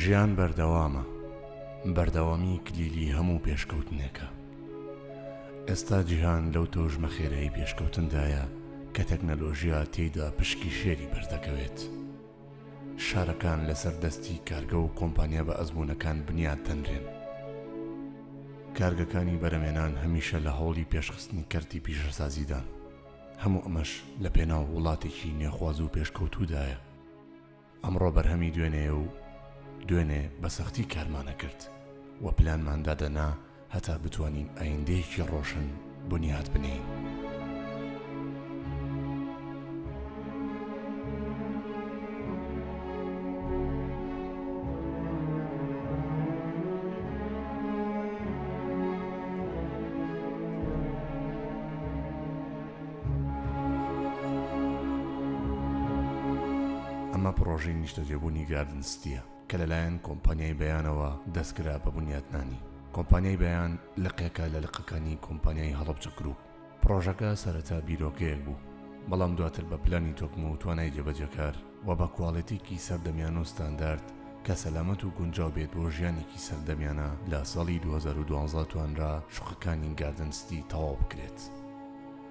ژیان بەردەوامە بەردەوامی کلیلی هەموو پێشکەوتنێکە ئێستا جیهان لەو تۆژمە خێرایی پێشکەوتندایە کە تەکنەلۆژیا تێیدا پشکی شێری بەردەکەوێت. شارەکان لەسەر دەستی کارگە و کۆمپانیا بە ئەزمونەکان بنیات دەنرێن کارگەکانی بەرەمێنان هەمیشە لە هەوڵی پێشخستنی کەرتی پیشەسازیدان هەموو ئەمەش لە پێناو وڵاتێکی نێخواز و پێشکەوتودایە ئەمڕۆ بەرهەمی دوێنێ و دوێنێ بە سەختی کارمانە کرد و پلانماندادەنا هەتا بتوانین ئایندەیەکی ڕۆشن بنیات بنێین. ئەمە پڕۆژەی نیشتەجێبوونی گاردن ستییە. کە لەلایەن کۆمپانیای بەیانەوە دەستکرا بە بنیاتنانی. کۆمپانیای بەیان لقێکە لە لقەکانی کۆمپانیای هەڵەبجە گرووپ. پڕۆژەکە سەرەتا بیرۆکەیەک بوو، بەڵام دواتر بە پلانی تۆکمە و توانای جێبەجێکار و بە کواڵێتییەکی سەردەمیانە و ستاندارد کە سەلامەت و گونجاو بێت بۆ ژیانێکی سەردەمیانە، لە ساڵی دوو هەزار و دوازدە توانرا شوقەکانی گاردن ستی تەواو بکرێت.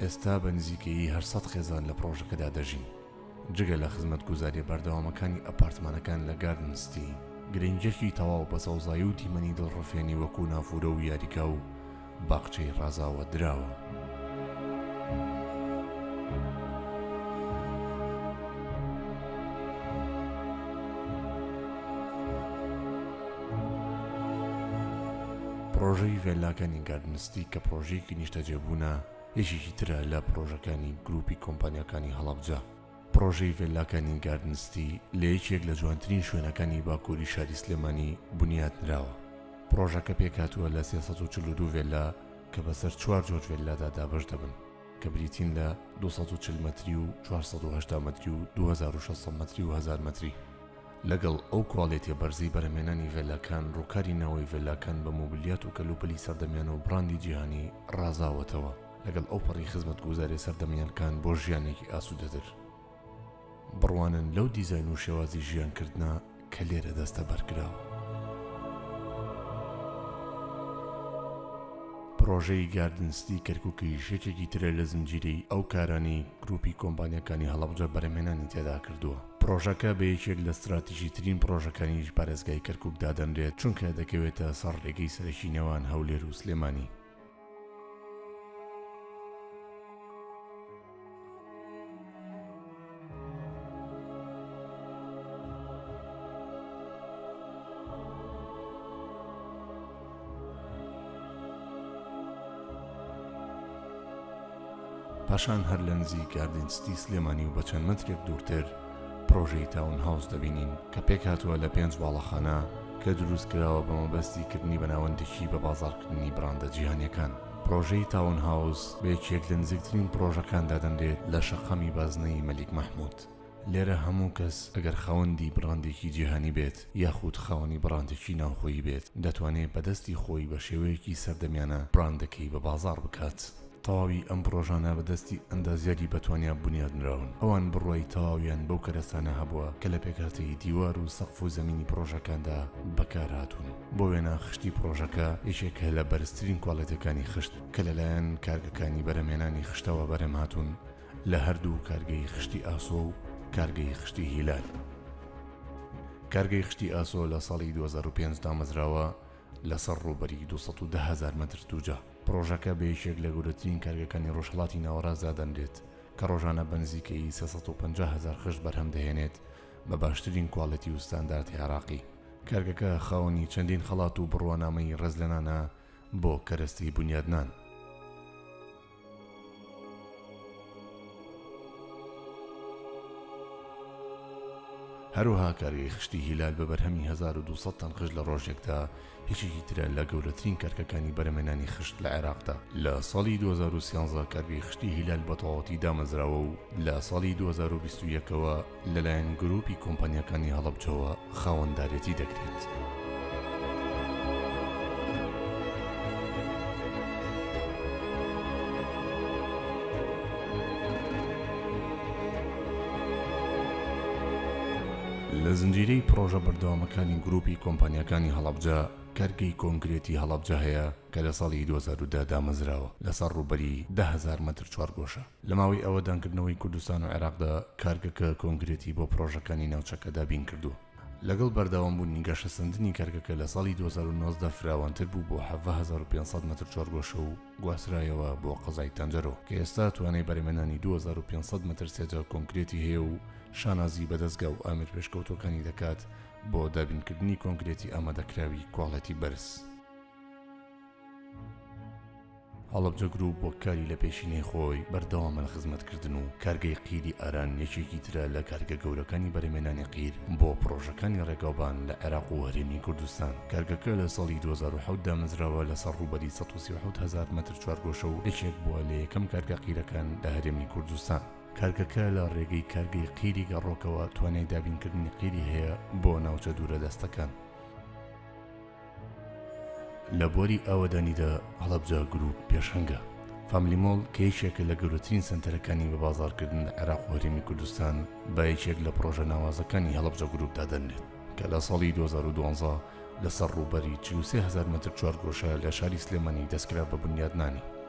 ئێستا بە نزیکەیی هەشت سەد خێزان لە پڕۆژەکەدا دەژین. جگە لە خزمەتگوزارییە بەردەوامەکانی ئەپارتمانەکان لە گاردن ستی، گرنگییەکی تەواو بە سەوزایی و دیمەنی دڵڕفێنی وەکوو نافوورە و یاریگا و باخچەی ڕازاوە دراوە. پڕۆژەی ڤێللاکانی گاردن ستی کە پڕۆژەیەکی نیشتەجێبوونە، یەکێکی ترە لە پڕۆژەکانی گروپی کۆمپانیاکانی هەڵەبجە، پڕۆژەی ڤێللاکانی گاردن ستی لە یەکێک لە جوانترین شوێنەکانی باکووری شاری سلێمانی بنیاتنراوە، پڕۆژەکە پێکهاتووە لە سێ سەد و چل و دوو ڤێللا کە بەسەر چوار جۆر ڤێللادا دابەش دەبن کە بریتین لە دوو سەد و چل مەتری و چوار سەد و هەشتا مەتری و دوو هەزار و شەش سەد مەتری و هەزار مەتری. لەگەڵ ئەو کوالێتیە بەرزەی بەرهەمهێنانی ڤێلاکان، ڕووکاری ناوەوەی ڤێلاکان بە مۆبلیات و کەلوپەلی سەردەمیانە و بڕاندی جیهانی ڕازاوەتەوە، لەگەڵ ئەوپەڕی خزمەتگوزاریە سەردەمیانکان بۆ ژیانێکی ئاسوودەتر. بڕوانن لەو دیزاین و شێوازی ژیانکردنە کە لێرە دەستەبەرکراوە. پڕۆژەی گاردن ستی کەرکووکیش یەکێکی ترە لە زنجیرەی ئەو کارانەی گرووپی کۆمپانیاکانی هەڵەبجە بەرهەمهێنانی تێدا کردووە. پڕۆژەکە بە یەکێک لە ستراتیژیترین پڕۆژەکانی پارێزگای کەرکوک دادەنرێت چونکە دەکەوێتە سەر ڕێگەی سەرەکی نێوان هەولێر و سلێمانی پاشان هەر لە نزیک گاردین ستی سلێمانی و بە چەند مەترێک دوورتر پڕۆژەی تاون هاوس دەبینین کە پێکهاتووە لە پێنج واڵەخانە کە دروست کراوە بە مەبەستی کردنی بە ناوەندێکی بە بازاڕکردنی بڕاندە جیهانیەکان پڕۆژەی تاون هاوس بە یەکێک لە نزیکترین پڕۆژەکان دادەنرێت لە شەقامی بازنەیی مەلیک مەحمود. لێرە هەموو کەس ئەگەر خاوەندی بڕاندێکی جیهانی بێت یاخود خاوەنی بڕاندێکی ناوخۆیی بێت دەتوانێ بە دەستی خۆی بە شێوەیەکی سەردەمیانە بڕاندەکەی بە بازاڕ بکات. تەواوی ئەم پڕۆژانە بە دەستی ئەندازیاری بەتوانیا بونیاد نراون. ئەوان بڕوای تەواویان بەو کەرەستانە هەبووە کە لە پێکهاتەی دیوار و سەقف و زەمینی پڕۆژەکاندا بەکار هاتوون. بۆ وێنە خشتی پڕۆژەکە یەکێکە لە بەرزترین کوالێتیەکانی خشت کە لەلایەن کارگەکانی بەرهەمهێنانی خشتەوە بەرهەم هاتوون. لە هەردوو کارگەی خشتی ئاسۆ و کارگەی خشتی هیلال کارگەی خشتی ئاسۆ لە ساڵی 2005 دامەزراوە لەسەر ڕووبەری 210 هەزار مەتر دووجا پڕۆژەکە بە یەکێک لە گەورەترین کارگەکانی ڕۆژهەڵاتی ناوەڕاست دادەنرێت کە ڕۆژانە بە نزیکەیی 350 هەزار خشت بەرهەم دەهێنێت بە باشترین کواڵێتی و ستانداردی عێراقی کارگەکە خاوەنی چەندین خەڵات و بڕوانامەی ڕێزلێنانە بۆ کەرەستەی بونیادنان. هەروەها کارگەی خشتی هیلال بە بەرهەمی هەزار و دوو سەد تەن خشت لە ڕۆژێکدا یەکێکی ترە لە گەورەترین کارگەکانی بەرهەمێنانی خشت لە عێراقدا لە ساڵی 2013 کارگەی خشتی هیلال بەتەواوەتی دامەزراوە و لە ساڵی 2021ەوە لەلایەن گروپی کۆمپانیاکانی هەڵەبجەوە خاوەندارێتی دەکرێت. لە زنجیرەی پڕۆژە بەردەوامەکانی گروپی کۆمپانیەکانی هەڵەبجە کەرگەی کۆنکرێتی هەڵەبجە هەیە کە لە ساڵی 2010 دامەزراوە لەسەر ڕوبەری دههزار مەتر چوارگۆشە لە ماوەی ئاوەدانکردنەوەی کوردستان و عێراقدا کارگەکە کۆنکرێتی بۆ پڕۆژەکانی ناوچەکە دابین کردووە. لەگەڵ بەردەوامبوونی گەشەسەندنی کارگەکە لە ساڵی دوو هەزار و نۆزدە فراوانتر بوو بۆ حەڤدە هەزار و پێنج سەد مەتر چوارگۆشە و گواسترایەوە بۆ قەزای تەنجەرۆ کە ئێستا توانای بەرهەمهێنانی دوو هەزار و پێنج سەد مەتر سێجا کۆنکرێتی هەیە و شانازی بە دەزگا و ئامێر پێشکەوتووەکانی دەکات بۆ دابینکردنی کۆنکرێتی ئامادەکراوی کواڵێتی بەرز. هەڵەبجە گرووپ وەک کاری لە پێشینەی خۆی بەردەوامە لە خزمەتکردن و کارگەی قیری ئاران یەکێکی ترە لە کارگە گەورەکانی بەرهەمێنانی قیر بۆ پڕۆژەکانی ڕێگاوبان لە عێراق و هەرێمی کوردستان کارگەکە لە ساڵی 2007 دامەزراوە لەسەر ڕووبەری 137 هەزار مەتر چوارگۆشە و یەکێک بووە لە یەکەم کارگە قیرەکان لە هەرێمی کوردستان کارگەکە لە ڕێگەی کارگەی قیری گەڕۆکەوە توانای دابینکردنی قیری هەیە بۆ ناوچە دوورە دەستەکان. لە بواری ئاوەدانیدا هەڵەبجە گرووپ پێشەنگە. فاملی مۆڵ کە یەکێکە لە گەورەترین سەنتەرەکانی بە بازاڕکردن لە عێراق و هەرێمی کوردستان بە یەکێک لە پڕۆژە ناوازەکانی هەڵەبجە گرووپ دادەنرێت کە لە ساڵی 2012 لەسەر ڕووبەری 43 هەزار مەتر چوارگۆشە لە شاری سلێمانی دەستکرا بە بنیادنانی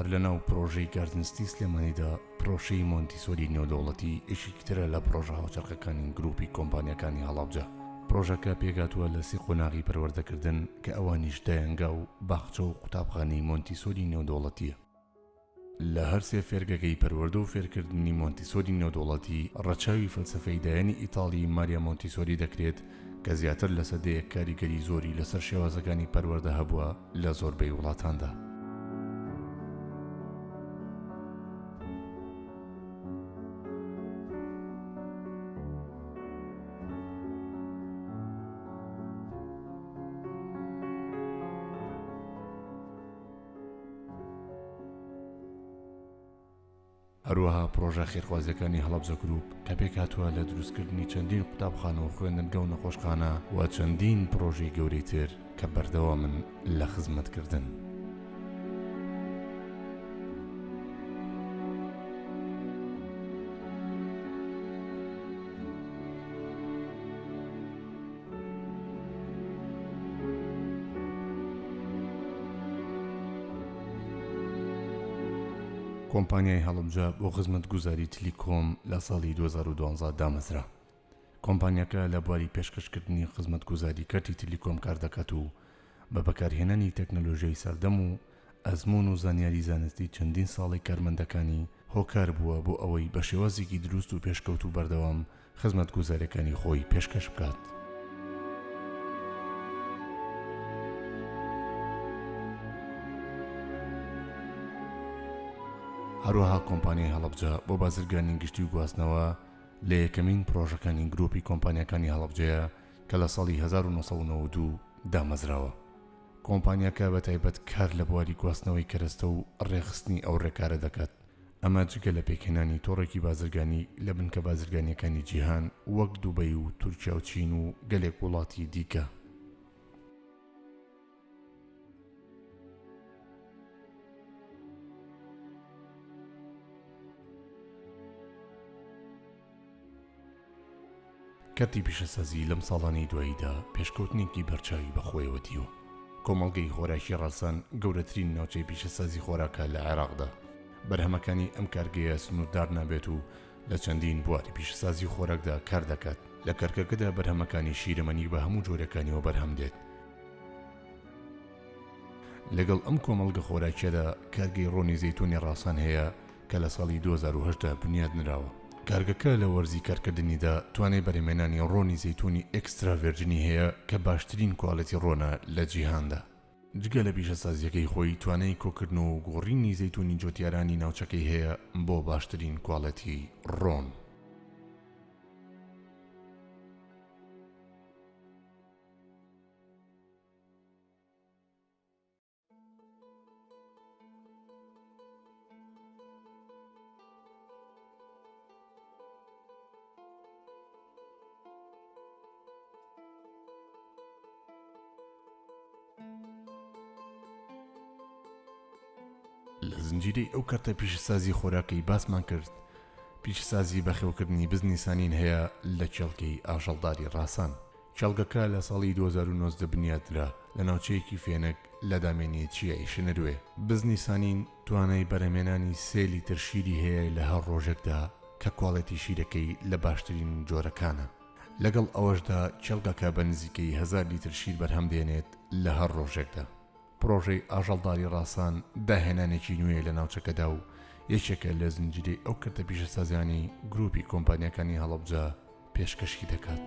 هەر لە ناو پرۆژەی گاردن ستی سلێمانیدا پرۆشەی مۆنتیسۆری نێودەوڵەتی ئێشیکترە لە پرۆژە هاوچەرخەکانی گروپی کۆمپانیەکانی هەڵاوجە پرۆژەکە پێگاتووە لە سی قۆناغی پەروەردەکردن کە ئەوانیش دایەنگا و باخچە و قوتابخانەی مۆنتیسۆری نێودەوڵەتیە لە هەر سێ فێرگەکەی پەروەردە و فێرکردنی مۆنتیسۆری نێودەوڵەتی، ڕەچاوی فەلسەفەی دایەنی ئیتاڵیی ماریا مۆنتیسۆری دەکرێت کە زیاتر لە سەدەیەک کاریگەری زۆری لەسەر شێوازەکانی پەروەردە هەبووە لە زۆربەی وڵاتاندا. هەروەها پڕۆژە خێرخوازیەکانی هەڵەبجە گروپ کە پێکهاتووە لە دروستکردنی چەندین قوتابخانە و خوێندنگە و نەخۆشخانە و چەندین پڕۆژەی گەورەی تر کە بەردەوامن لە خزمەتکردن. کۆمپانیای هەڵەبجە بۆ خزمەتگوزاری تلیکۆم لە ساڵی 2012 دامەزرا کۆمپانیەکە لە بواری پێشکەشکردنی خزمەتگوزاری کەرتی تلیکۆم کاردەکات و بە بەکارهێنانی تەکنەلۆژیای سەردەم و ئەزموون و زانیاری زانستی چەندین ساڵەی کارمەندەکانی هۆکار بووە بۆ ئەوەی بە شێوازێکی دروست و پێشکەوتوو بەردەوام خزمەتگوزاریەکانی خۆی پێشکەش بکات. هەروەها کۆمپانیای هەڵەبجە بۆ بازرگانی گشتی و گواستنەوە لە یەکەمین پڕۆژەکانی گرۆپی کۆمپانیاکانی هەڵەبجەیە کە لە ساڵی هەزار و نۆ سەد و نەوەد و دوو دامەزراوە. کۆمپانیاکە بە تایبەت کار لە بواری گواستنەوەی کەرەستە و ڕێکخستنی ئەو ڕێکارە دەکات، ئەمە جگە لە پێکهێنانی تۆڕێکی بازرگانی لە بنکە بازرگانییەکانی جیهان وەک دوبەی و تورکیا و چین و گەلێک وڵاتی دیکە. کەرتی پیشەسازی لەم ساڵانەی دواییدا پێشکەوتنێکی بەرچاوی بەخۆیەوە دیوە. کۆمەڵگەی خۆراکی ڕاسان گەورەترین ناوچەی پیشەسازی خۆراکە لە عێراقدا. بەرهەمەکانی ئەم کارگەیە سنووردار نابێت و لە چەندین بواری پیشەسازی خۆراکدا کار دەکات. لە کەرکەکەدا بەرهەمەکانی شیرەمەنی بە هەموو جۆرەکانیەوە بەرهەم دێت. لەگەڵ ئەم کۆمەڵگە خۆراکیەدا کارگەی ڕۆنی زەیتوونی ڕاسان هەیە کە لە ساڵی دوو هەزار و هەژدە بنیاد نراوە. کارگەکە لە وەرزی کارکردنیدا توانای بەرهەمێنانی ڕۆنی زەیتوونی ئێکسترا ڤێرجنی هەیە کە باشترین کوالێتی ڕۆنە لە جیهاندا. جگە لە پیشەسازییەکەی خۆی، توانای کۆکردن و گۆڕینی زەیتوونی جۆتیارانی ناوچەکەی هەیە بۆ باشترین کوالێتی ڕۆن. لە زنجیرەی ئەو کەرتە پیشەسازی خۆراکەی باسمان کرد پیشەسازی بەخێوکردنی بزنی سانین هەیە لە کێڵگەی ئاژەڵداری ڕاسان کێڵگەکە لە ساڵی دوو هەزار و نۆزدە بنیاتنرا لە ناوچەیەکی فێنک لە دامێنی چیای شنروێ. بزنی سانین توانای بەرهەمێنانی سێ لیتر شیری هەیە لە هەر ڕۆژێکدا کە کواڵێتی شیرەکەی لە باشترین جۆرەکانە. لەگەڵ ئەوەشدا کێڵگەکە بە نزیکەی هەزار لیتر شیر بەرهەم دێنێت لە هەر ڕۆژێکدا. پڕۆژەی ئاژەڵ داری ڕاسان داهێنانێکی نوێیە لە ناوچەکەدا و یەکێکە لە زنجیرەی ئەو کەرتە پیشەسازیانەی گرووپی کۆمپانیاکانی هەڵەبجە پێشکەشی دەکات.